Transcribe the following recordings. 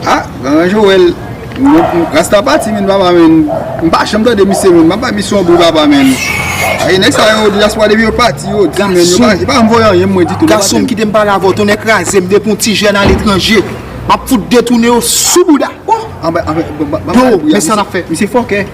Ah Grand Joel Rasta pati menn papa menn M pa janm tande misye menn Map bay misye yon bri papa menn Ayi nèg sa yo diaspora depi yo pati yo di menn Yo pa janm voye anyen pou mwen ditou Gason m kite m pale avè w tonnè kraze m depi yon ti jèn aletranje Map fout detounen yo sou bouda Ohh Anbè anbè Banm bal bri a Misye fòkè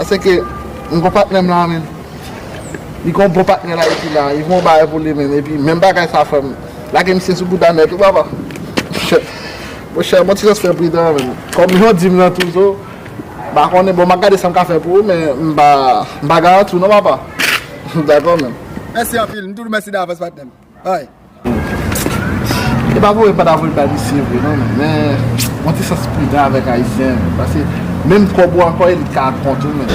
Ase ke m gon patnè m la menm li gon bon patnè l ayiti la li gon bagay pou li menm epi menm bagay sa fè m lage misye sou bouda nèt wi papa Mon chè bon ti jan fè pridan an menm kòm jan w di m lan tou zo m pa konnen bon m ap gade sa m ka fè pou ou men m pa m pa garanti w non papa Dakò menm. Mèsi anpil, m tou di w mèsi davans patnè m. Ay. E pa voye pa ta voye bay misye vre non men yon ti sans pridan avèk ayisyen paske menm kòb ou ankò e li t ka ak kont ou menm.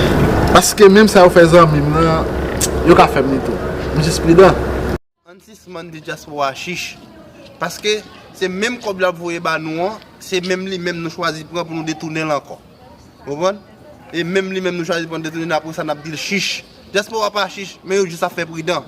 Paske menm sa yo fè zanmi m nan yo ka fè m li tou. M jis pridan. Ann sispann di dyaspora chich. Paske se menm kòb lap voye ba nou an se menm li menm nou chwazi pran pou nou detounen l ankò. Ou konprann? E menm li menm nou chwazi pran detounen l apresa nap di l chich. Dyaspora pa chich men yo jis ap fè pridan.